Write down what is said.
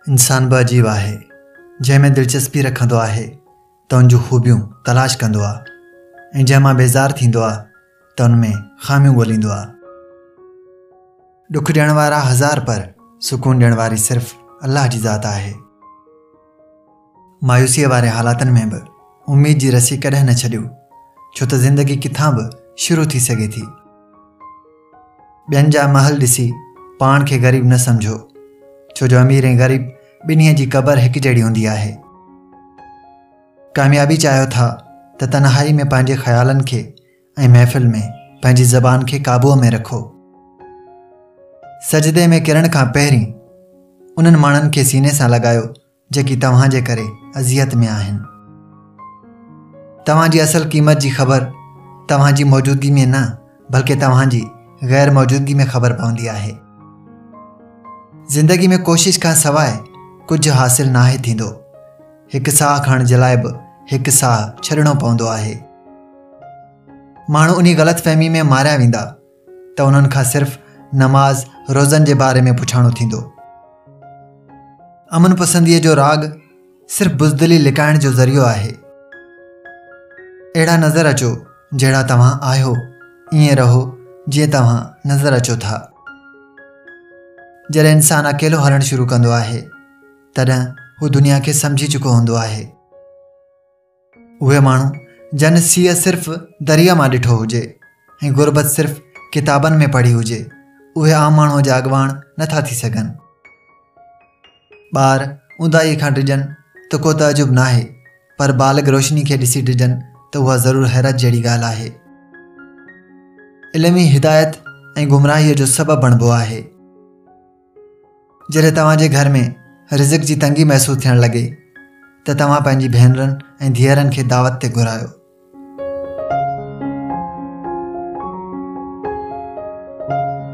انسان به عجيب آهي جنهن ۾ دلچسپي رکندو آهي ته ان جون خوبيون تلاش ڪندو آهي ۽ جنهن مان بيزار ٿيندو آهي ته ان ۾ خاميون ڳوليندو آهي ڏک ڏيڻ وارا هزار پر سڪون ڏيڻ واري صرف الله جي ذات آهي مايوسيء واري حالاتن ۾ به اميد جي رسي ڪڏهن نه ڇڏيو، ڇو ته زندگي ڪٿان به شروع ٿي سگهي ٿي. ٻين جا محل ڏسي پاڻ کي غريب نه سمجهو، ڇو جو امير ۽ غريب ٻنهي جي قبر هڪ جهڙي هوندي آهي. ڪاميابي چاهيو ٿا ته تنهائي ۾ پنهنجي خيالن کي ۽ محفل ۾ پنهنجي زبان کي قابوء ۾ رکو. سجدي ۾ ڪرڻ کان پهرين انهن ماڻهن کي سيني سان لڳايو جيڪي توهان جي ڪري اذيت ۾ آهن. توهان جي اصل قيمت جي خبر توهان جي موجودگي ۾ نه بلڪه توهان جي غير موجودگي ۾ خبر پوندي آهي. زندگي ۾ ڪوشش کان سواء ڪجهه حاصل ناهي ٿيندو. هڪ ساهه کڻڻ جي لاء به هڪ ساهه ڇڏڻو پوندو آهي. ماڻهو انهي غلط فهمي ۾ ماريا ويندا ته انهن کان صرف نماز روزن جي باري ۾ پڇاڻو ٿيندو. امن پسنديء جو راڳ صرف بزدلي لڪائڻ جو ذريعو آهي. اهڙا نظر اچو جهڙا توهان آهيو، ائين رهو جيئن توهان نظر اچو ٿا. جڏهن انسان اڪيلو هلڻ شروع ڪندو آهي، تڏهن هو دنيا کي سمجهي چڪو هوندو آهي. اهي ماڻهو جن سيء صرف دريء مان ڏٺو هجي ۽ غربت صرف ڪتابن ۾ پڙهي هجي اهي عام ماڻهوء جا اڳواڻ نٿا ٿي سگهن. ٻار اونداهيء کان ڊڄن ته ڪو تعجب ناهي پر بالغ روشني کي ڏسي ڊڄن ته اها ضرور حيرت جهڙي ڳالهه آهي. علم ئي هدايت ۽ گمراهيء جو سبب بڻبو آهي. جڏهن توهان جي گهر ۾ رزق جي تنگي محسوس ٿيڻ لڳي ته توهان پنهنجي ڀينرن ۽ ڌيئرن کي دعوت تي گهرايو